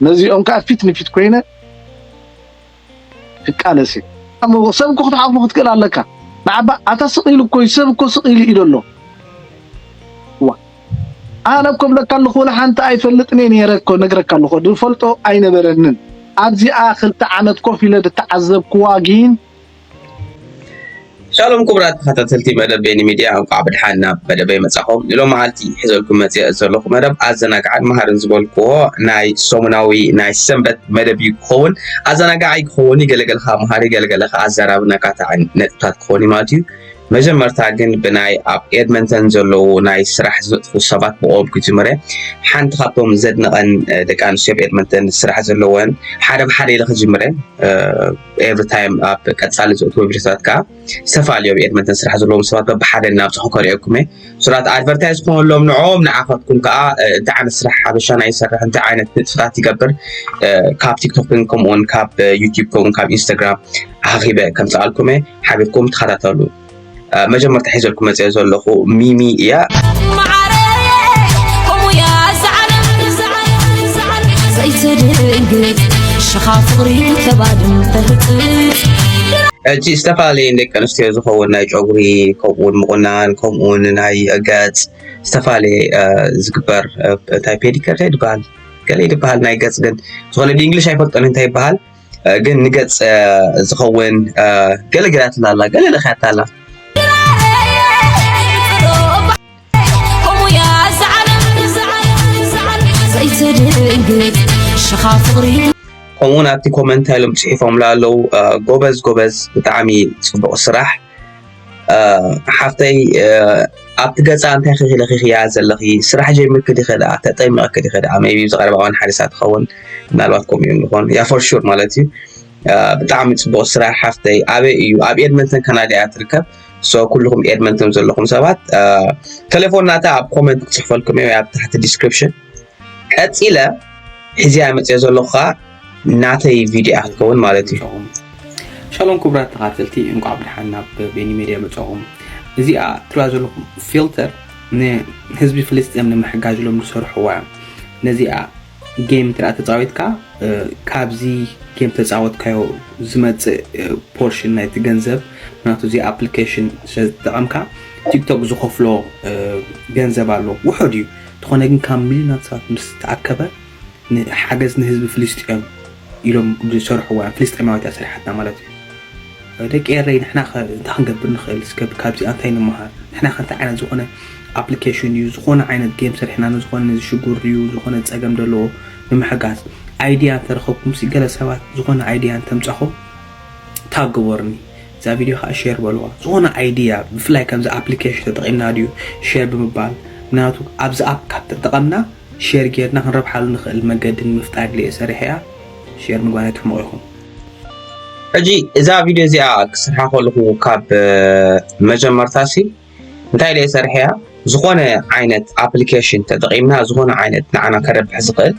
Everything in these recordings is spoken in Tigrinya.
ነዚኦም ከኣ ፊት ንፊት ኮይነ ክቃለስ እየ። ኣሞ ሰብ እኮ ክትሓቁፎ ክትክእል ኣለካ ንዓባ ኣታ ስቅ ኢሉ እኮዩ ሰብ እኮ ስቅ ኢሉ እዩ ደሎ ዋእ ኣነ እኮ እብለካ ኣለኩ ወላ ሓንቲ ኣይፈልጥን እየ ነይረ እኮ ነግረካ ኣለኩ ድፈልጦ ኣይነበረንን ኣብዚኣ ክልተ ዓመት ኮፍ ኢለ ድተዓዘብክዋ ጊን ሻሎም ክቡራት ተኸታተልቲ መደብ ቤኒ ሚድያ እንቋዕ ብድሓን ናብ መደበይ መጻኹም ንሎ መዓልቲ ሒዘልኩም መጽአ ዘለኹ መደብ ኣዘናጋዕን መሃርን ዝበልክዎ ናይ ሰሙናዊ ናይ ሰንበት መደብ እዩ ክኸውን ኣዘናጋዒ ክኸውን እዩ ገለገልካ መሃሪ ገለገለካ ኣዘራብን ኣካታዕን ነጥብታት ክኸውን እዩ ማለት እዩ መጀመርታ ግን ብናይ ኣብ ኤድመንተን ዘለዉ ናይ ስራሕ ዝነጥፉ ሰባት ብኦም ክጅምረ ሓንቲ ካብቶም ዘድነቐን ደቂ ኣንስትዮ ኣብ ኤድመንተን ስራሕ ዘለወን ሓደ ብሓደ ኢለ ክጅምረ ኤቭሪ ታይም ኣብ ቀፃሊ ዘእትዎ ቪድዮታት ከዓ ዝተፈላለዩ ኣብ ኤድመንተን ስራሕ ዘለዎም ሰባት በብሓደ እናብፅሑ ከሪኦኩም እየ ሱራት ኣድቨርታይዝ ክኾነሎም ንዕኦም ንዓኻትኩም ከዓ እንታይ ዓይነት ስራሕ ሓበሻ ናይ ይሰርሕ እንታይ ዓይነት ንጥፍታት ይገብር ካብ ቲክቶክን ከምኡውን ካብ ዩቲብ ከምኡውን ካብ ኢንስታግራም ኣኺበ ከምፅኣልኩም እየ ሓቢርኩም ተኸታተሉ መጀመርታ ሒዘልኩም መፅኦ ዘለኹ ሚሚ እያ ሕጂ ዝተፈላለየ ደቂ ኣንስትዮ ዝኸውን ናይ ጨጉሪ ከምኡውን ምቑናን ከምኡውን ናይ ገፅ ዝተፈላለየ ዝግበር እንታይ ፔዲከር ይበሃል ገለ ይበሃል ናይ ገፅ ግን ዝኾነ ብእንግሊሽ ኣይፈልጦን እንታይ ይበሃል ግን ንገጽ ዝኸውን ገለ ገላትና ኣላ ገለ ለኽያታ ኣላ ከምኡውን ኣብቲ ኮመንታ ኢሎም ፅሒፎምላ ኣለዉ ጎበዝ ጎበዝ ብጣዕሚ ፅቡቕ ስራሕ ሓፍተይ ኣብቲ ገፃ እንታይ ክለኺኽያ ዘለኺ ስራሕ ጀሚርኪ ዲኸ ደኣ ተጠሚቕኪ ዲኸ ደኣ ሜቢ ኣብዚ ቀረባ እዋን ሓሪሳ ትኸውን ምናልባት ከምኡ እዮም ዝኾኑ ያ ፎር ሹር ማለት እዩ ብጣዕሚ ፅቡቕ ስራሕ ሓፍተይ ኣበይ እዩ ኣብ ኤድመንተን ካናዳ እያ ትርከብ ሶ ኩልኹም ኤድመንተን ዘለኹም ሰባት ቴሌፎን ናታ ኣብ ኮመንት ክፅሕፈልኩም እየ ኣብ ታሕቲ ዲስክሪፕሽን ቀጺለ ሕዚያ መጽኦ ዘለኹ ከዓ ናተይ ቪድዮ እያ ክትከውን ማለት እዩ ሻሎም ክቡራት ተኻተልቲ እንኳዕ ብድሓን ናብ ቤኒ ሜድያ መጻኹም እዚኣ ትርያ ዘለኹም ፊልተር ንህዝቢ ፍልስጥኤም ንምሕጋዝ ኢሎም ዝሰርሕዋ እዮም ነዚኣ ጌም ትርኣ ተፃዊትካ ካብዚ ጌም ተፃወትካዮ ዝመፅእ ፖርሽን ናይቲ ገንዘብ ምክንያቱ እዚ ኣፕሊኬሽን ስለዝተጠቐምካ ቲክቶክ ዝኸፍሎ ገንዘብ ኣሎ ውሑድ እዩ እንተኾነ ግን ካብ ሚልዮናት ሰባት ምስ ተኣከበ ንሓገዝ ንህዝቢ ፍልስጤም ኢሎም ዝሰርሕዋ ፍልስጤማዊት እያ ሰሪሓትና ማለት እዩ። ደቂ ኤረይ ንሕና ከ እንታይ ክንገብር ንኽእል እስከ ካብዚኣ እንታይ ንምሃር ንሕና ከ እንታይ ዓይነት ዝኾነ ኣፕሊኬሽን እዩ ዝኾነ ዓይነት ጌም ሰሪሕና ንዝኾነ ነዚ ሽጉር እዩ ዝኾነ ጸገም ዘለዎ ንምሕጋዝ ኣይድያ እንተረኸብኩም ሲ ገለ ሰባት ዝኾነ ኣይድያ እንተምጻኹም ታብ ግበሩኒ እዛ ቪድዮ ከኣ ሼር በልዋ ዝኾነ ኣይድያ ብፍላይ ከምዚ ኣፕሊኬሽን ተጠቒምና ድዩ ሼር ብምባል ምክንያቱ ኣብዚ ኣፕ ካብ ተጠቐምና ሼር ጌርና ክንረብሓሉ ንኽእል መገዲ ንምፍጣር ኢለ'የ ሰሪሐያ ሼር ምግባር ኣይትሕመቑ ኢኹም። ሕጂ እዛ ቪድዮ እዚኣ ክስርሓ ከለኹ ካብ መጀመርታሲ እንታይ ደይ ሰርሐያ ዝኾነ ዓይነት ኣፕሊኬሽን ተጠቒምና ዝኾነ ዓይነት ንዓና ከረብሕ ዝኽእል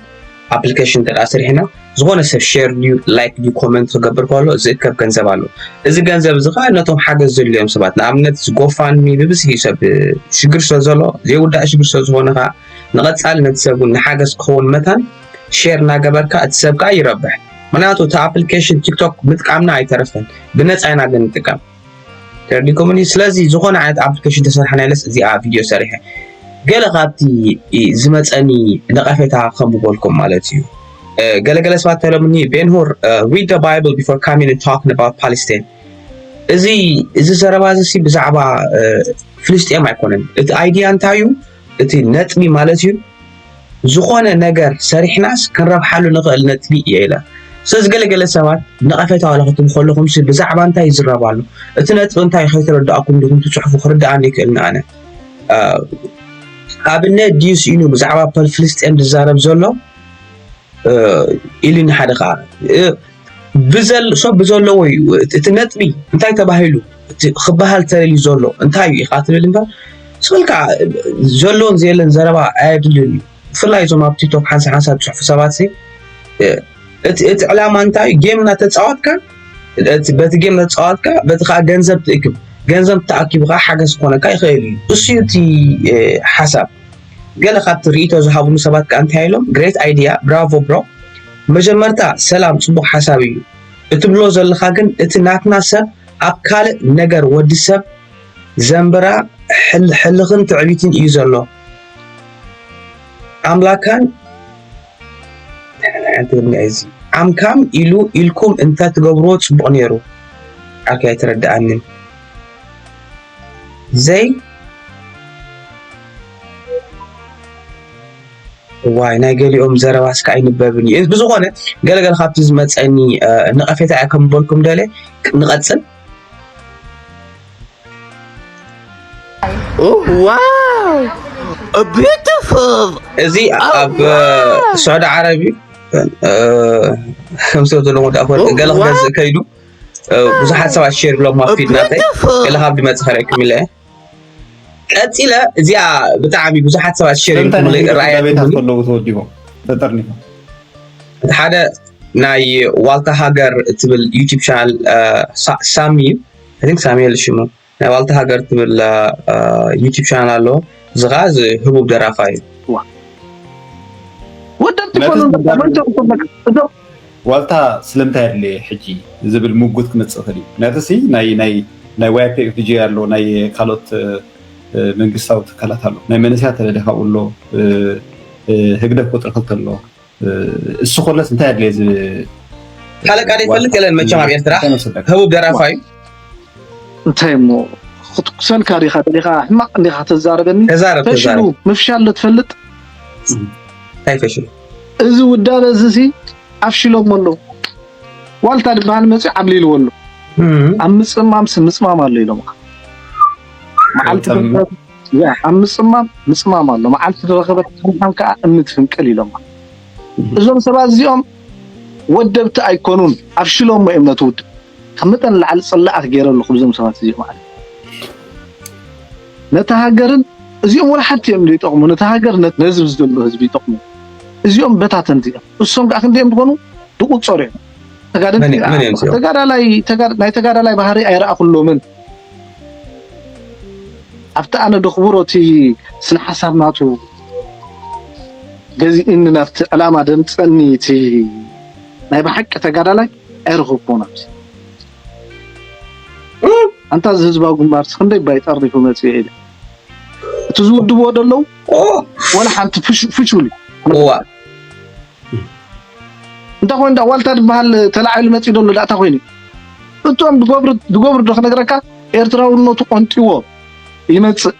ኣፕሊኬሽን እንተ ስሪሕና ዝኾነ ሰብ ሸር ድዩ ላይክ ድዩ ኮመንት ክገብር ከሎ ዝእከብ ገንዘብ ኣሎ እዚ ገንዘብ እዚ ከዓ ነቶም ሓገዝ ዘድልዮም ሰባት ንኣብነት ጎፋንሚ ብብዝሒ ሰብ ሽግር ስለ ዘሎ ዘይውዳእ ሽግር ስለ ዝኾነ ከዓ ንቐፃሊ ነቲ ሰብ እውን ንሓገዝ ክኸውን መታን ሼር እናገበርካ እቲ ሰብ ከዓ ይረብሕ ምክንያቱ እቲ ኣፕሊኬሽን ቲክቶክ ምጥቃምና ኣይተረፈን ብነፃ ኢና ግን ንጥቀም ቴሌኮሙኒ ስለዚ ዝኾነ ዓይነት ኣፕሊኬሽን ተሰርሐና ኢለስ እዚኣ ቪድዮ ሰሪሐ ገለ ካብቲ ዝመፀኒ ነቐፌታ ከም ዝበልኩም ማለት እዩ ገለገለ ሰባት ተሎምኒ ቤንሁር ሪድ ደ ባይብል ቢፎር ካሚን ታክን ኣባውት ፓለስታይን እዚ እዚ ዘረባ እዚ ብዛዕባ ፍልስጤም ኣይኮነን እቲ ኣይድያ እንታይ እዩ እቲ ነጥቢ ማለት እዩ ዝኾነ ነገር ሰሪሕናስ ክንረብሓሉ ንኽእል ነጥቢ እየ ኢለ ስለዚ ገለ ገለ ሰባት ነቐፌታ ዋላ ክትብ ከለኹም ሲ ብዛዕባ እንታይ ይዝረብ ኣሎ እቲ ነጥቢ እንታይ ከይተረዳእኩም ዲኹም ትፅሕፉ ክርዳኣኒ ይክእል ንኣነ ኣብነ ድዩ ስኢኑ ብዛዕባ ፍልስጤም ዝዛረብ ዘሎ ኢሉኒ ሓደ ከዓ ብዘል ሰብ ብዘለዎ እዩ እቲ ነጥቢ እንታይ ተባሂሉ እቲ ክበሃል ተደልዩ ዘሎ እንታይ እዩ ኢኻ ትብል እምበር ስበልካ ዘሎን ዘየለን ዘረባ ኣየድልን እዩ ብፍላይ እዞም ኣብ ቲክቶክ ሓንሳ ሓንሳ ዝፅሑፉ ሰባት እቲ ዕላማ እንታይ እዩ ጌም እናተፃወትካ በቲ ጌም እናተፃወትካ በቲ ከዓ ገንዘብ ትእክብ ገንዘብ ተኣኪቡ ከዓ ሓገዝ ክኾነካ ይኽእል እዩ እሱ እዩ እቲ ሓሳብ ገለ ካብቲ ርእቶ ዝሃብሉ ሰባት ከዓ እንታይ ኢሎም ግሬት ኣይድያ ብራቮ ብሮ መጀመርታ ሰላም ጽቡቅ ሓሳብ ኢዩ እትብሎ ዘለኻ ግን እቲ ናትና ሰብ ኣብ ካልእ ነገር ወዲ ሰብ ዘንብራ ሕል ሕልኽን ትዕቢትን ኢዩ ዘሎ ኣምላካን ዓምካም ኢሉ ኢልኩም እንተ ትገብርዎ ጽቡቅ ነይሩ ኣኪ ኣይተረድኣንን ዘይ እዋይ ናይ ገሊኦም ዘረባ እስከ ኣይንበብን እዩ። ብዝኾነ ገለ ገለ ካብቲ ዝመፀኒ ነቐፌታ እያ ከም በልኩም ደለ ንቐፅል። ዋው ቢዩቲፉል እዚ ኣብ ስዑዲ ዓረብ እዩ ከምሰብ ዘለዎ ዳኣ ኮነ ገለ ክገዝእ ከይዱ ብዙሓት ሰባት ሼር ብሎም ኣብ ፊድ ናተይ ገለ ካብ ድመፅእ ከርእየኩም ኢለ እየ ቀፂለ እዚኣ ብጣዕሚ ብዙሓት ሰባት ሸር እቲ ሓደ ናይ ዋልታ ሃገር ትብል ዩቲብ ቻናል ሳሚ ን ሳሚኤል ሽሙ ናይ ዋልታ ሃገር ትብል ዩቲብ ቻናል ኣሎ እዚ ከዓ እዚ ህቡብ ደራፋ እዩ ወደብቲ ኮኑ ዋልታ ስለምንታይ ኣድለየ ሕጂ ዝብል ምጉት ክመጽእ ይኽእል እዩ። ምክንያቱ ሲ ናይ YPFDJ ኣሎ፣ ናይ ካልኦት መንግስታዊ ትካላት ኣሎ፣ ናይ መንእሰያት ተለደ ካብኡ ኣሎ፣ ህግደፍ ቁጽሪ ክልተ ኣሎ፣ እሱ ከሎስ እንታይ ኣድለየ ዝብል ሃለቃ ዘይፈልጥ የለን መቸም ኣብ ኤርትራ ህቡብ ደራፋ እዩ እንታይ እሞ ክትኩሰልካ ዲኻ ደሊኻ ሕማቕ እንዲኻ ተዛረበኒ ተዛረብ ተዛረብ ምፍሻል ዶ ትፈልጥ እንታይ ፈሽሉ እዚ ውዳበ እዚሲ ኣፍሽሎሞ ኣለዉ። ዋልታ ዝበሃል መጺኡ ዓብሊልዎ ኣሎ። ኣብ ምጽማምሲ ምጽማም ኣሎ ኢሎምኻ መዓልቲ ኣብ ምጽማም ምጽማም ኣሎ መዓልቲ ዝረኸበት ምዃን ከዓ እምኒ ትፍንቅል ኢሎማ እዞም ሰባት እዚኦም ወደብቲ ኣይኮኑን ኣፍሽሎሞ እዮም ነቲ ውድብ ካብ መጠን ንላዕሊ ጽላኣት ጌረ ኣለኹ ብዞም ሰባት እዚኦም ኣነ ነታ ሃገርን እዚኦም ወላ ሓንቲ እዮም ዘይጠቕሙ ነታ ሃገር ነዚ ዘሎ ህዝቢ ይጠቕሙ እዚኦም በታተንቲ እዮም እሶም ከዓ ክንደዮም ዝኾኑ ዝቁጸሩ እዮም ተጋደልቲ ተጋዳላይ ናይ ተጋዳላይ ባህሪ ኣይረኣኹሎምን ኣብቲ ኣነ ድኽብሮ እቲ ስነ ሓሳብ ናቱ ገዚእኒ ናብቲ ዕላማ ደምፀኒ እቲ ናይ ብሓቂ ተጋዳላይ ዒር ኹቡን ኣምሲ ኣንታ እዚ ህዝባዊ ግንባርስ ክንደይ ባይ ጠሪፉ መጺኡ ኢለ እቲ ዝውድብዎ ደለዉ ወላ ሓንቲ ፍሹል እዩ እዋ እንታይ ኮይኑ ዳ ዋልታ ዝበሃል ተላዒሉ መፂኡ ደሎ ዳእታ ኮይኑ እቶም ዝገብሩ ዶ ክነግረካ ኤርትራውነቱ ቆንጢዎ ይመፅእ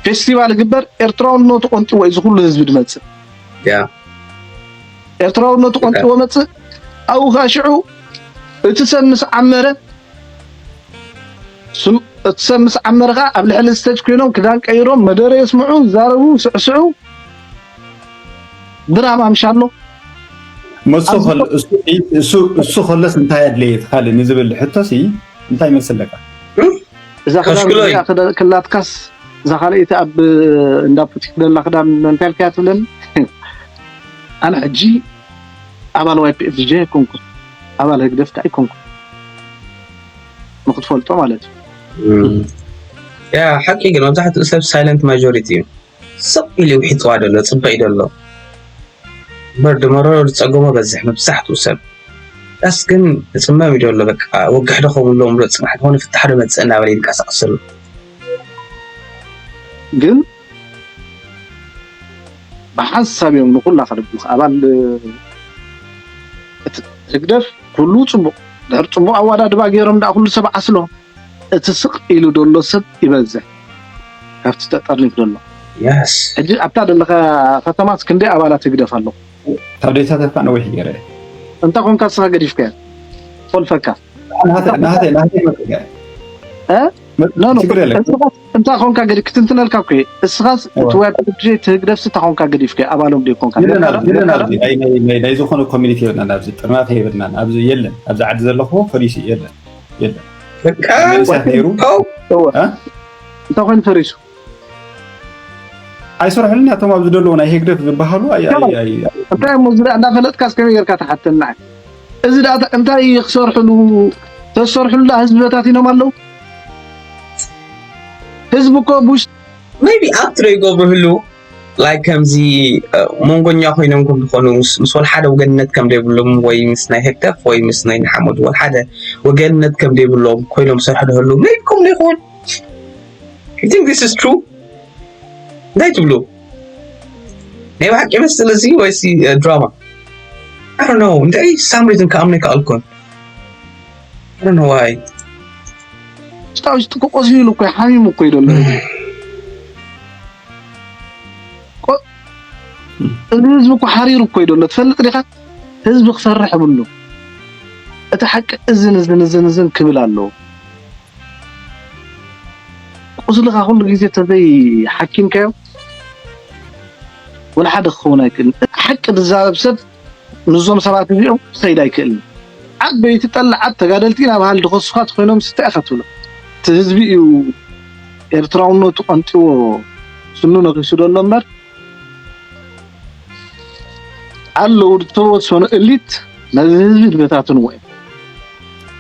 ፌስቲቫል ይግበር ኤርትራውነቱ ቆንጢዎ እዩ ዝኩሉ ህዝቢ ዝመፅእ ኤርትራውነቱ ቆንጥዎ መጽእ ኣብኡ ከኣ ሽዑ እቲ ሰብ ምስ ዓመረ እቲ ሰብ ምስ ዓመረ ከኣ ኣብ ልዕሊ ስተጅ ኮይኖም ክዳን ቀይሮም መደረ የስምዑ ይዛረቡ ስዕስዑ ድራማ ምሻሎ እሱ ከለስ እንታይ ኣድለየ ትካል ንዝብል ሕቶሲ እንታይ ይመስለካ እዛ ክዳን ክላትካስ እዛ ካልኣይቲ ኣብ እንዳ ፑቲክ ደላ ክዳን እንታይ ኢልካያ ትብለኒ ኣነ ሕጂ ኣባል YPFJ ኣይኮንኩን ኣባል ህግደፍ ከኣ ኣይኮንኩን ንክትፈልጦ ማለት እዩ ያ ሓቂ ግን መብዛሕትኡ ሰብ ሳይለንት ማጆሪቲ እዩ ስቕ ኢሉ ውሒጥዋ ደሎ ፅበ እዩ ደሎ እምበር ድመሮ ዝፀገሞ በዝሕ መብዛሕትኡ ሰብ ዳስ ግን ዝፅመም እዩ ደሎ በቃ ወግሕ ዶ ከምሎ ምሎ ፅባሕ ዝኾነ ፍታሕ ዶ መፅእ እናበለ ይንቀሳቐስ ዘሎ ግን ብሓንሳብ እዮም ንኹላ ከድብሉኻ ኣባል እቲ ህግደፍ ኩሉ ጽቡቕ ድሕር ጽቡቕ ኣዋዳድባ ገይሮም ደኣ ኩሉ ሰብ ዓስሎ እቲ ስቕ ኢሉ ደሎ ሰብ ይበዝሕ ካብቲ ተጠርኒፍ ደሎ ያስ ሕጂ ኣብታ ደለኻ ከተማስ ክንደይ ኣባላት ህግደፍ ኣለኹ ታብዴታት እኳ ነዊሕ ገይረ እንታ ኮንካ ስኻ ገዲፍካያ ፈልፈካ ናሃተይ ናሃተይ መጥያ እ ኖ ኖ ችግር የለን እስኻስ እንታ ኮንካ ግዲ ክትንትነልካ እኮ እየ እስኻስ እቲ ወይ ፕሮጀክት እቲ ህግደፍሲ እንታ ኮንካ ገዲፍካዮ ኣባሎም ድዩ ኮንካ የለን ነርካ ዶ? ኣብዚ የለን ነርካ ዶ? ኣብዚ ናይ ናይ ናይ ናይ ዝኾነ ኮሚኒቲ የብልናን ኣብዚ ጥርናፈ የብልናን ኣብዚ የለን ኣብዚ ዓዲ ዘለኹዎ ፖሊሲ የለን የለን በቃ ኣብ መንእሰያት ነይሩ እወ እ? እንታይ ኮይኑ ፈሪሱ ኣይሰርሑልን እያ እቶም ኣብ ዝደለዎ ናይ ህግደፍ ዝበሃሉ ኣይ ኣይ ኣይ እንታይ እሞ ዝዳ- እንዳፈለጥካስ ከመይ ጌርካ ትሓተና እዚ ዳኣ እንታይ ክሰርሕሉ ተዝሰርሕሉ ዳኣ ህዝቢ በታቲኖም ኣለው ህዝቢ እኮ ቡሽ ሜቢ ኣብ ትረ ይገብርህሉ ላይ ከምዚ መንጎኛ ኮይኖም ከም ዝኾኑ ምስ ወልሓደ ወገንነት ከም ዘይብሎም ወይ ምስ ናይ ህግደፍ ወይ ምስ ናይ ንሓመዱ ወልሓደ ወገንነት ከም ዘይብሎም ኮይኖም ዝሰርሑ ደህሉ ሜቢ ከምኡ ይኸውን ቲንክ ዚስ ኢዝ ትሩ እንታይ ትብሉ ናይ ብሓቂ ይመስል እዚ ወይሲ ድራማ ኣሮ ነው እንታይ ሳም ሪዝን ከኣምነ ይከኣልኩን ኣሮ ነው ዋይ ስታዊ ስጥቁ ቆሲሉ እኮ ሓሚሙ እኮ እዩ ዘሎ እዚ ህዝቢ እኮ ሓሪሩ እኮ እዩ ዘሎ ትፈልጥ ዲኻ ህዝቢ ክሰርሕ ይብሉ እቲ ሓቂ እዝን እዝን እዝን እዝን ክብል ኣለዎ ቁስልኻ ኩሉ ግዜ ተዘይ ሓኪምካዮ ወላ ሓደ ክኸውን ኣይክእልን። እቲ ሓቂ ዝዛረብ ሰብ ምስዞም ሰባት እዚኦም ክኸይድ ኣይክእልን። ዓበይቲ ጠላዓት ተጋደልቲ ኢና በሃልቲ ከሱኻ ተኾይኖምስ እንታይ ኢኻ ትብሎም? እቲ ህዝቢ እዩ ኤርትራውነቱ ቀንጢዎ ስኑ ነኺሱ ዘሎ እምበር ኣለዉ ዝተወሰኑ እሊት ነዚ ህዝቢ ዝበታትንዎ እዮም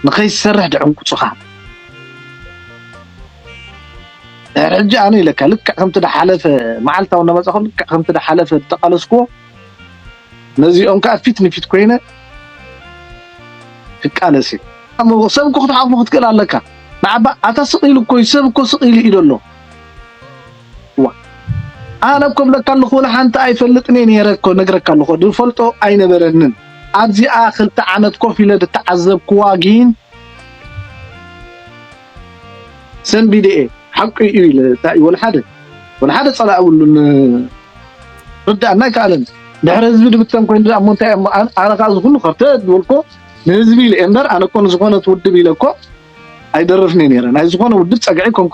ንኸይሰርሕ ድዕንቁፁኻ ድሕሪ ሕጂ ኣነ ኢለካ ልክዕ ከምቲ ድሓለፈ መዓልታዊ እናመፃኹ ልክዕ ከምቲ ድሓለፈ ዝተቓለስክዎ ነዚኦም ከዓ ፊት ንፊት ኮይነ ክቃለስ እዩ ሰብ እኮ ክትሓቁፎ ክትክእል ኣለካ ንዓባ ኣታ ስቕ ኢሉ እኮ እዩ ሰብ እኮ ስቕ ኢሉ እዩ ዘሎ ዋእ ኣነ እኮ እብለካ ኣለኩ ወላ ሓንቲ ኣይፈልጥን እየ ነይረ እኮ ነግረካ ኣለኩ ድፈልጦ ኣይነበረንን ኣብዚኣ ክልተ ዓመት ኮፍ ኢለ ድተዓዘብክዋ ጊን ሰንቢደ እየ ሓቁ እዩ ኢለ እንታይ እዩ ወላ ሓደ ወላ ሓደ ጸላኢ የብሉን ርዳእና ኣይከኣለን ድሕሪ ህዝቢ ድብተን ኮይኑ ድኣ እሞ እንታይ እሞ ኣነ ከዓ እዚ ኩሉ ከርተ ዝበልኮ ንህዝቢ ኢለ እየ እምበር ኣነ እኮ ንዝኾነት ውድብ ኢለ እኮ ኣይደርፍን እየ ነይረ ናይ ዝኾነ ውድብ ጸግዒ ኮንኩ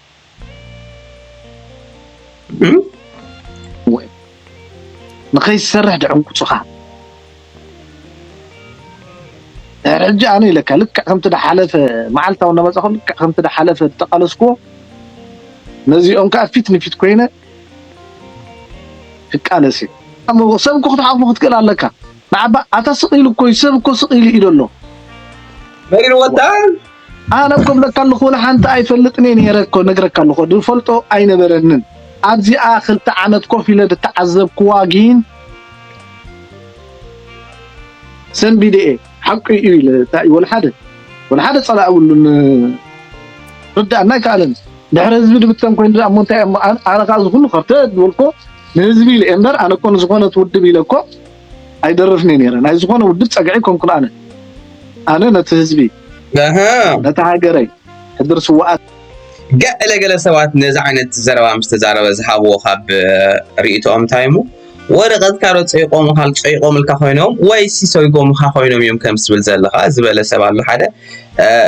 ንኸይሰርሕ ድዕንቁፁኻ ድሕሪ ሕጂ ኣነ ኢለካ ልክዕ ከምቲ ድሓለፈ መዓልታዊ እናመፃኹ ልክዕ ከምቲ ድሓለፈ ዝተቃለስክዎ ነዚኦም ከዓ ፊት ንፊት ኮይነ ክቃለስ እየ ሰብ እኮ ክትሓቁፎ ክትክእል ኣለካ ንዓባ ኣታ ስቅ ኢሉ እኮ እዩ ሰብ እኮ ስቅ ኢሉ ኢሉ ኣሎ መሪር ወጣ ኣነ እኮ እብለካ ኣለኹ ወላ ሓንቲ ኣይፈልጥን እየ ነይረ እኮ ነግረካ ኣለኹ ዝፈልጦ ኣይነበረንን ኣብዚኣ ክልተ ዓመት ኮፍ ኢለ ዝተዓዘብክዋ ግን ሰንቢደ እየ ሓቁ እዩ ኢለ እንታይ እዩ ወልሓደ ወልሓደ ፀላእ የብሉን ርዳእና ኣይከኣለን ድሕሪ ህዝቢ ድብተን ኮይኑ ድኣ እሞ እንታይ እሞ ኣነ ከዓ እዚ ኩሉ ከርተት ዝበልኮ ንህዝቢ ኢለ እየ እምበር ኣነ እኮ ንዝኾነት ውድብ ኢለ እኮ ኣይደርፍን'የ ነይረ ናይ ዝኾነ ውድብ ጸግዒ ኣይኮንኩን ኣነ ኣነ ነቲ ህዝቢ ነቲ ሃገረይ ሕድሪ ስውኣት ገለ ገለ ሰባት ነዚ ዓይነት ዘረባ ምስ ተዛረበ ዝሃብዎ ካብ ርእይቶኦም እንታይ እሞ ወረቐትካ ዶ ፀይቆምካ ፀይቆምልካ ኮይኖም ወይ ሲሰይጎምካ ኮይኖም እዮም ከም ዝብል ዘለኻ ዝበለ ሰብ ኣሎ ሓደ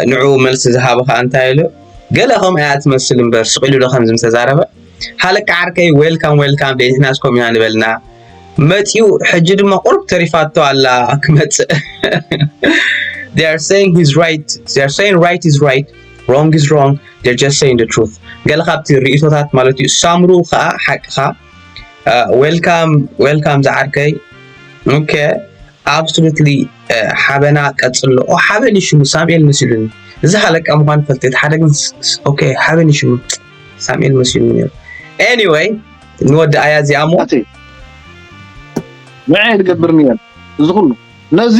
ንዑ መልሲ ዝሃብኻ እንታይ ኢሉ ገለ ከም እያ ትመስል እምበር ስቂሉ ዶ ከምዚ ምተዛረበ ሃለቃ ዓርከይ ዌልካም ዌልካም ደይንሕናስ ኮም ኢና ንበልና መጺኡ ሕጂ ድማ ቁሩብ ተሪፋቶ ኣላ ክመጽእ they are saying he's right they are saying right is right wrong is wrong they're just saying the truth ገለ ካብቲ ርእቶታት ማለት እዩ ሳምሩ ከዓ ሓቅኻ ዌልካም ዌልካም ዝዓርከይ ኦኬ ኣብሶሉትሊ ሓበና ቀጽሎ ኦ ሓበን እዩ ሽሙ ሳሙኤል መሲሉኒ እዚ ሃለቃ ምኳኑ ፈልጥ ሓደ ግን ኦኬ ሓበን እዩ ሽሙ ሳሙኤል መሲሉኒ ነይሩ ኤኒዌይ ንወድኣያ እዚኣ እሞ ናተይ ንዐይ ዝገብር ነይረ እዚ ኩሉ ነዚ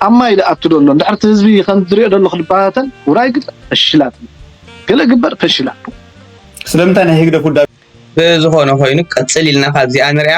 ኣብ ማይ ዝኣቱ ዘሎ እንድሕር እቲ ህዝቢ ከምዚ ዝሪኦ ዘሎ ክበታተን ውራይ ግበር ፈሽላት ገለ ግበር ፈሽላት ስለምንታይ ናይ ህግደፍ ውዳቤ ብዝኾነ ኮይኑ ቀፅል ኢልና ካብዚኣ ንሪኣ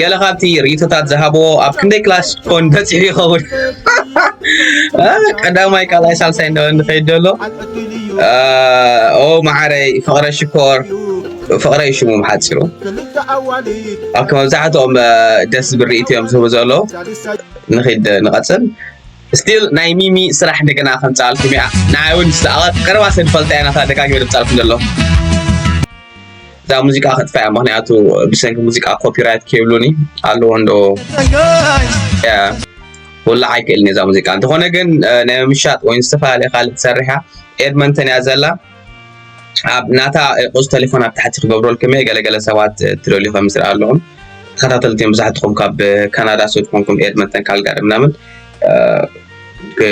ገለ ካብቲ ርእይቶታት ዝሃብዎ ኣብ ክንደይ ክላስ ኮን በፂሑ ይኸውን ቀዳማይ ካልኣይ ሳልሳይ እንዳ ንኸይድ ደሎ ኦ መዓረይ ፍቕረ ሽኮር ፍቕረይ ሽሙ ሓፂሩ ኣብከ መብዛሕትኦም ደስ ዝብል ርእይቶ እዮም ዝህቡ ዘለዉ ንኺድ ንቐፅል ስቲል ናይ ሚሚ ስራሕ እንደገና ከምጻኣልኩም እያ ንዓይ ውን ምስ ኣብ ቀረባ ሰብ ዝፈልጣ እያ ናታ ደጋጊመ ድምጻልኩም ዘሎ እዛ ሙዚቃ ከጥፋያ ምክንያቱ ብሰንኪ ሙዚቃ ኮፒራይት ከይብሉኒ ኣለዎ እንዶ ወላ ኣይክእልን እዛ ሙዚቃ እንተኾነ ግን ናይ ምሻጥ ወይ ዝተፈላለየ ካልእ ትሰርሕ እያ ኤድመንተን እያ ዘላ ኣብ ናታ ቁጽሪ ቴሌፎን ኣብ ታሕቲ ክገብረልኩም እየ ገለ ገለ ሰባት ትደልዩ ከም ዝረኣ ኣለኹም ተኸታተልቲ እዮም ብዙሓትኹም ካብ ካናዳ ሱድ ኮንኩም ኤድመንተን ካልጋሪ ምናምን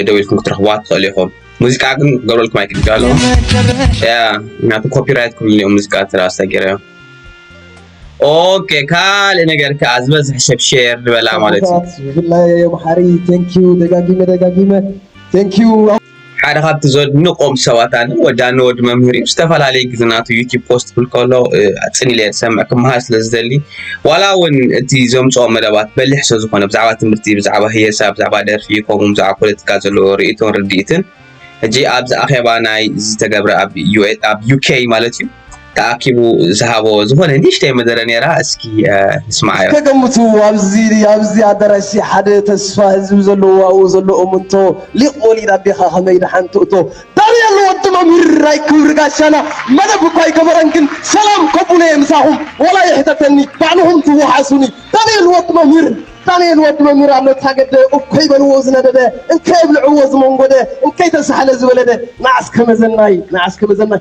ደዊልኩም ክትረኽቡዋ ትኽእሉ ኢኹም ሙዚቃ ግን ክገብረልኩም ኣይክእል ኣለኹ ምክንያቱ ኮፒራይት ክብሉኒ እዮም ሙዚቃ ትራ ኣሰጊረ እዮም ኦኬ ካልእ ነገር ከዓ ዝበዝሕ ሰብ ሼር ዝበላ ማለት እዩ ብፍላይ ኣምሓሪ ቴንኪዩ ደጋጊመ ደጋጊመ ቴንኪዩ ሓደ ካብቲ ዘድንቆም ሰባት ኣነ ወዲ ኣነ ወዲ መምህር እዩ ዝተፈላለየ ግዜ ናቱ ዩቲብ ፖስት ክብል ከሎ ኣጽን ኢለ ዝሰምዕ ክመሃር ስለ ዝደሊ ዋላ እውን እቲ ዘምጽኦ መደባት በሊሕ ስለ ዝኾነ ብዛዕባ ትምህርቲ ብዛዕባ ህየሳ ብዛዕባ ደርፊ ከምኡ ብዛዕባ ፖለቲካ ዘለዎ ርእይቶን ርድኢትን ሕጂ ኣብዚ ኣኼባ ናይ ዝተገብረ ኣብ ዩኬ ማለት እዩ ተኣኪቡ ዝሃቦ ዝኾነ ንእሽተይ መደረ ነይራ እስኪ ንስማዓዮ። እስከ ገምቱ ኣብዚ ኣብዚ ኣዳራሽ ሓደ ተስፋ ህዝቢ ዘለዎ ኣብኡ ዘሎ እምንቶ ሊቅ ወሊድ ኣዴኻ ከመይ ደሓን ትእቶ ዳንኤል ወዲ መምህር ናይ ክብሪ ጋሻና መደብ እኳ ኣይገበረን ግን ሰላም ከብሎ እየ ምሳኹም ዋላ ይሕተተኒ ባዕልኹም ትወሓሱኒ ዳንኤል ወዲ መምህር ዳንኤል ወዲ መምህር ኣሎ ታገደ እኮይ በልዎ ዝነደደ እንከይ ኣብልዕዎ ዝመንጎደ እንከይ ተሳሕለ ዝበለደ ንዓስ ከመዘናይ ንዓስ ከመዘናይ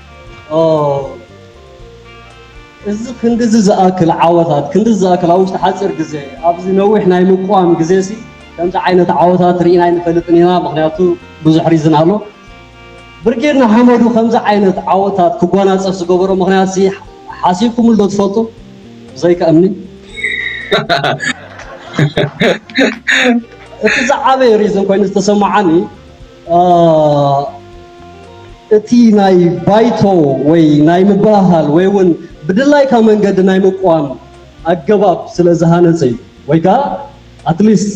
እዚ ክንድዚ ዝኣክል ዓወታት ክንድዚ ዝኣክል ኣብ ውሽጢ ሓፂር ግዜ ኣብዚ ነዊሕ ናይ ምቋም ግዜ ሲ ከምዚ ዓይነት ዓወታት ርኢና ኣይንፈልጥን ኢና ምክንያቱ ብዙሕ ሪዝን ኣሎ ብርጌድ ንሓመዱ ከምዚ ዓይነት ዓወታት ክጓናፀፍ ዝገበሮ ምክንያት ሲ ሓሲብኩምሉ ዶ ትፈልጡ ብዘይካ እምኒ እቲ ዝዓበየ ሪዝን ኮይኑ ዝተሰማዓኒ እቲ ናይ ባይቶ ወይ ናይ ምብህሃል ወይ እውን ብድላይካ መንገዲ ናይ ምቋም ኣገባብ ስለ ዝሃነፀ እዩ ወይ ከዓ ኣትሊስት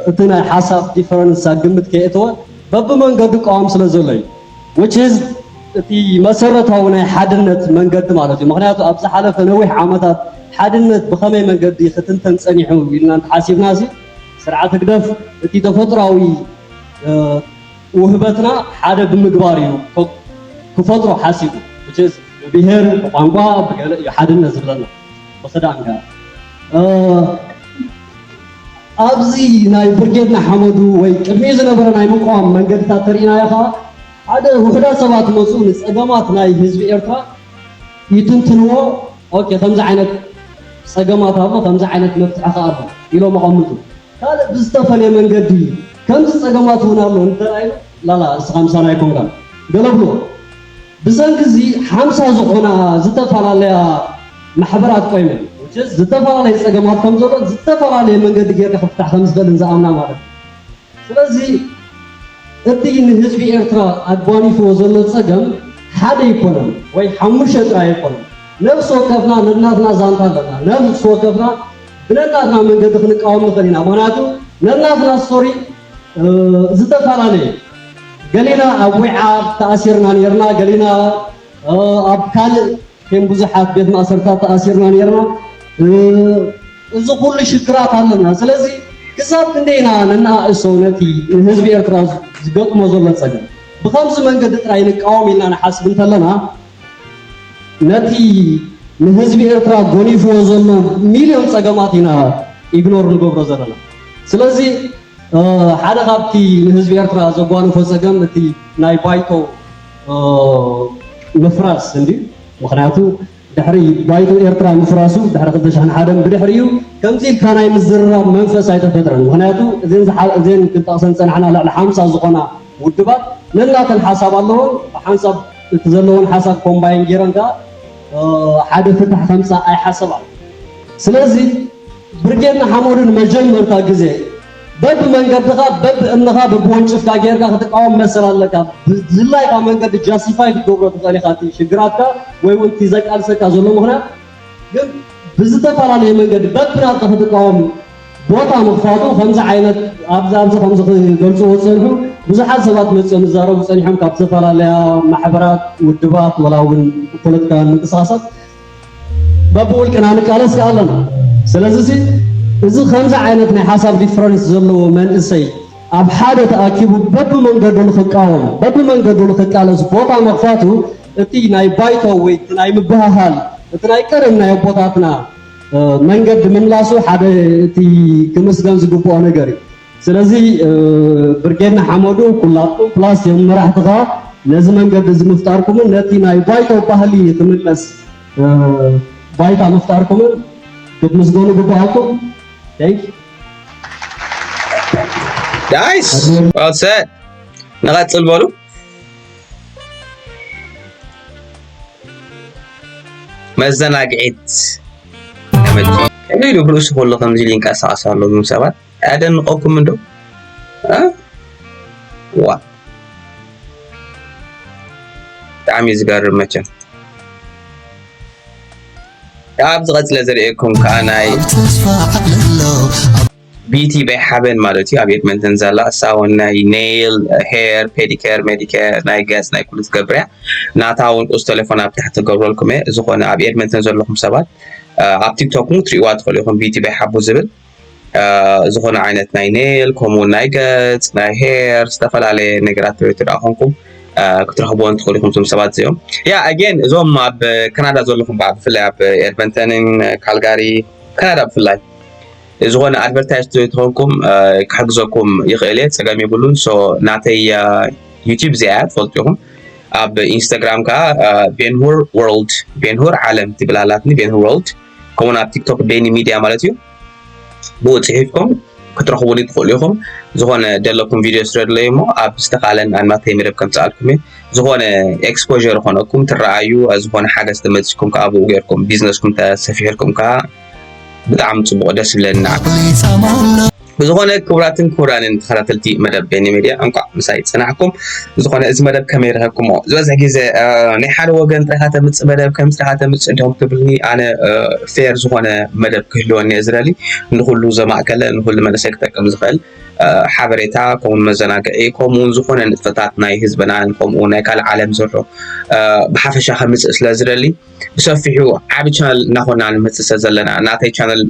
እቲ ናይ ሓሳብ ዲፈረንስ ኣብ ግምት ከየእተወ በብመንገዱ ቃዋም ስለ ዘሎ እዩ which is እቲ መሰረታዊ ናይ ሓድነት መንገዲ ማለት እዩ ምክንያቱ ኣብ ዝሓለፈ ነዊሕ ዓመታት ሓድነት ብኸመይ መንገዲ ክትንተን ፀኒሑ ኢልና እንተሓሲብና ሲ ስርዓት ህግደፍ እቲ ተፈጥሯዊ ውህበትና ሓደ ብምግባር እዩ ክፈጥሮ ሓሲቡ ብጀዝ ብብሄር ብቋንቋ ብገለ እዩ ሓድነት ዝብለና ብክዳን ጋር ኣብዚ ናይ ብርጌድ ንሓመዱ ወይ ቅድሚኡ ዝነበረ ናይ ምቋም መንገድታት ተርእናዮ ከዓ ሓደ ውሕዳት ሰባት መፁ ንፀገማት ናይ ህዝቢ ኤርትራ ይትንትንዎ ኦኬ ከምዚ ዓይነት ፀገማት ኣሎ ከምዚ ዓይነት መፍትሒ ከዓ ኣሎ ኢሎም ኣቐምጡ ካልእ ብዝተፈልየ መንገዲ ከምዚ ጸገማት እውን ኣሎ እንተራእዩ ላላ እስኻ ምሳና ኣይኮንካን ገለ ብሎ። ብሰንኪ እዚ ሓምሳ ዝኾና ዝተፈላለያ ማሕበራት ቆይመን which is ዝተፈላለየ ጸገማት ከም ዘሎን ዝተፈላለየ መንገዲ ጌርካ ክፍታሕ ከም ዝኽእልን ዝኣምና ማለት እዩ። ስለዚ እቲ ንህዝቢ ኤርትራ ኣጓኒፍዎ ዘሎ ጸገም ሓደ ኣይኮነን ወይ ሓሙሽተ ጥራይ ኣይኮነን። ነፍሲ ወከፍና ነናትና ዛንታ ኣለና። ነፍሲ ወከፍና ብነናትና መንገዲ ክንቃወም ንኽእል ኢና ምኽንያቱ ነናትና ስቶሪ ዝተፈላለዩ እዩ ገሊና ኣብ ዊዓ ተኣሲርና ነርና ገሊና ኣብ ካልእ ከም ብዙሓት ቤት ማእሰርታት ተኣሲርና ነርና እዚ ኩሉ ሽግራት ኣለና ስለዚ ክሳብ ክንደይ ኢና ነናእእሶ ነቲ ንህዝቢ ኤርትራ ዝገጥሞ ዘሎ ጸገም ብኸምዚ መንገዲ ጥራይ ንቃወም ኢልና ንሓስብ እንተለና ነቲ ንህዝቢ ኤርትራ ጎኒፍዎ ዘሎ ሚልዮን ጸገማት ኢና ኢግኖር ንገብሮ ዘለና። ስለዚ ሓደ ካብቲ ንህዝቢ ኤርትራ ዘጓንፎ ጸገም እቲ ናይ ባይቶ ምፍራስ እንድዩ። ምኽንያቱ ድሕሪ ባይቶ ኤርትራ ምፍራሱ ድሕሪ ክልተ ሽሕን ሓደን ብድሕሪኡ ከምዚ ኢልካ ናይ ምዝርራብ መንፈስ ኣይተፈጥረን። ምኽንያቱ እዘን እዘን ክንጠቕሰን ዝጸናሕና ልዕሊ ሓምሳ ዝኾና ውድባት ነናተን ሓሳብ ኣለወን ብሓንሳብ እቲ ዘለወን ሓሳብ ኮምባይን ጌረን ከኣ ሓደ ፍታሕ ከምጻ ኣይሓሰባን ስለዚ ብርጌድ ንሓመዱን መጀመርታ ግዜ በብ መንገድኻ በብ እምንኻ በብ ወንጭፍካ ጌርካ ክትቃወም መሰል ኣለካ ብዝላይካ መንገዲ ጃስቲፋይ ክትገብሮ ትኽእል ኢኻ እቲ ሽግራትካ ወይ ውን እቲ ዘቃልሰካ ዘሎ ምኽንያት ግን ብዝተፈላለየ መንገዲ በብናትካ ክትቃወም ቦታ ምኽፋቱ ከምዚ ዓይነት ኣብዚ ኣብዚ ከምዚ ክገልጽዎ ዝጸንሑ ብዙሓት ሰባት መጺኦም ዝዛረቡ ጸኒሖም ካብ ዝተፈላለያ ማሕበራት ውድባት ወላ እውን ፖለቲካውያን ምንቅስቓሳት በብውልቅና ንቃለስ ከኣ ኣለና ስለዚሲ እዚ ከምዚ ዓይነት ናይ ሓሳብ ዲፍረንስ ዘለዎ መንእሰይ ኣብ ሓደ ተኣኪቡ በብመንገዱ ንኽቃወም በብመንገዱ ንኽቃለስ ቦታ ምኽፋቱ እቲ ናይ ባይቶ ወይ እቲ ናይ ምብህሃል እቲ ናይ ቀደም ናይ ኣቦታትና መንገዲ ምምላሱ ሓደ እቲ ክምስገን ዝግብኦ ነገር እዩ። ስለዚ ብርጌድ ንሓመዱ ኩላትኩም ፕላስ ዮም መራሕትኻ ነዚ መንገዲ እዚ ምፍጣርኩምን ነቲ ናይ ባይቶ ባህሊ ክምለስ ባይታ ምፍጣርኩምን ክትምስገኑ ግብኣኩም። ናይስ ንቐፅል በሉ። መዘናግዒት ተመቺ ከመይ ኢሉ ብርእሱ ከሎ ከምዚ ኢሉ ይንቀሳቐስ ኣሎ እዞም ሰባት ኣያደንቐኩም እንዶ ዋ ብጣዕሚ እዩ ዝገርም መቸም ኣብ ዝቐፅለ ዘርእየኩም ከዓ ናይ ቢቲ በይ ሓበን ማለት እዩ ኣብ ኤድመንተን ዘላ እሳ እውን ናይ ኔይል ሄር ፔዲኬር ሜዲኬር ናይ ገጽ ናይ ኩሉ ትገብር እያ ናታ እውን ቁጽ ቴሌፎን ኣብ ታሕቲ ትገብረልኩም እየ ዝኾነ ኣብ ኤድመንተን ዘለኹም ሰባት ኣብ ቲክቶክ እውን ክትሪእዋ ትኽእሉ ኢኹም ቢቲ በይ ሓቡ ዝብል ዝኾነ ዓይነት ናይ ኔል ከምኡ ናይ ገጽ ናይ ሄር ዝተፈላለየ ነገራት ትሪኡ ትደኣ ኮንኩም ክትረኽብዎ እንትኽእሉ ኢኹም እዞም ሰባት እዚኦም ያ ኣጌን እዞም ኣብ ካናዳ ዘለኹም ብዓ ብፍላይ ኣብ ኤድመንተንን ካልጋሪ ካናዳ ብፍላይ ዝኮነ ኣድቨርታይዝ ተኮንኩም ክሕግዘኩም ይክእል እየ ፀገም የብሉን ሶ ናተይ ዩቲብ እዚኣ እያ ትፈልጡ ኢኹም ኣብ ኢንስታግራም ከዓ ቤንሁር ወርልድ ቤንሁር ዓለም ትብል ኣላትኒ ቤንሁር ወርልድ ከምኡውን ኣብ ቲክቶክ ቤኒ ሚድያ ማለት እዩ ብኡ ፅሒፍኩም ክትረኽቡኒ ትኽእሉ ኢኹም ዝኾነ ደለኩም ቪድዮ ስረድለይ እሞ ኣብ ዝተኻለን ኣናተይ መደብ ከምፅኣልኩም እየ ዝኾነ ኤክስፖር ዝኾነኩም ትረኣዩ ዝኾነ ሓገዝ ተመፅኩም ከዓ ብኡ ገይርኩም ቢዝነስኩም ተሰፊሕልኩም ከዓ ብጣዕሚ ጽቡቕ ደስ ይብለና። ብዝኾነ ክቡራትን ክቡራንን ተኸታተልቲ መደብ ቤኒ ሚድያ እንኳዕ ምሳይ ጽናሕኩም። ዝኾነ እዚ መደብ ከመይ ረኸብኩሞ ዝበዝሕ ግዜ ናይ ሓደ ወገን ጥራይካ ተምጽእ መደብ ከም ስራኻ ተምጽእ እንዲኹም ትብልኒ ኣነ ፌር ዝኾነ መደብ ክህልወኒ እየ ዝደሊ ንኹሉ ዘማእከለ ንኹሉ መንእሰይ ክጠቅም ዝኽእል ሓበሬታ ከምኡ መዘናግዒ ከምኡውን ዝኾነ ንጥፈታት ናይ ህዝብናን ከምኡ ናይ ካልእ ዓለም ዘሎ ብሓፈሻ ከምጽእ ስለ ዝደሊ ብሰፊሑ ዓብ ቻነል እናኾና ንመፅእ ስለ ዘለና ናተይ ቻነል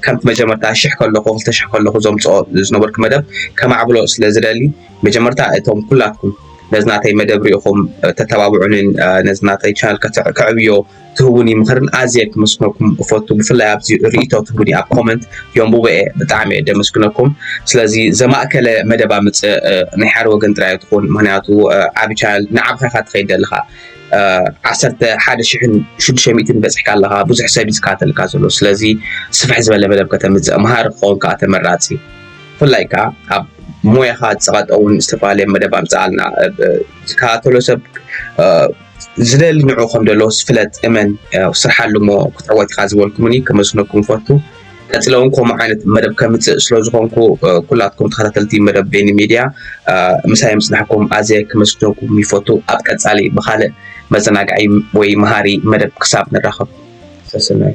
ከምቲ መጀመርታ ሽሕ ከለኹ ክልተ ሽሕ ከለኹ ዘምፅኦ ዝነበርኩ መደብ ከማዕብሎ ስለ ዝደሊ መጀመርታ እቶም ኩላትኩም ነዚ ናተይ መደብ ሪኢኹም ተተባብዑንን ነዚ ናተይ ቻነል ከዕብዮ ትህቡኒ ምኽርን ኣዝየ ክመስግነኩም እፈቱ ብፍላይ ኣብዚ ርእቶ ትህቡኒ ኣብ ኮመንት የንቡበ እየ ብጣዕሚ እየ ደመስግነኩም ስለዚ ዘማእከለ መደባ ምፅእ ናይ ሓደ ወገን ጥራይ ትኹን ምክንያቱ ዓብ ቻነል ንዓብኻ ኢኻ ትኸይድ ዘለኻ ዓሰርተ ሓደ ሽሕን ሽዱሽተ ሚእትን በጽሕካ ኣለኻ ብዙሕ ሰብ እዩ ዝከታተልካ ዘሎ ስለዚ ስፍሕ ዝበለ መደብ ከተምጽእ መሃሪ ክኸውን ከዓ ተመራጺ ብፍላይ ከዓ ኣብ ሞያኻ ዝጸቐጠውን ዝተፈላለየ መደብ ኣምጽኣልና ዝከታተሎ ሰብ ዝደሊ ንዑ ከም ዘሎ ፍለጥ እመን ስርሓሉ እሞ ክትዕወት ኢኻ ዝበልኩምኒ ከመስነኩም ፈቱ ቀፂለ እውን ከምኡ ዓይነት መደብ ከምፅእ ስለዝኾንኩ ኩላትኩም ተኸታተልቲ መደብ ቤኒ ሚድያ ምሳይ ምፅናሕኩም ኣዝየ ክመስግነኩም ይፈቱ። ኣብ ቀፃሊ ብካልእ መዘናግዒ ወይ መሃሪ መደብ ክሳብ ንራኸብ ሰስናዩ።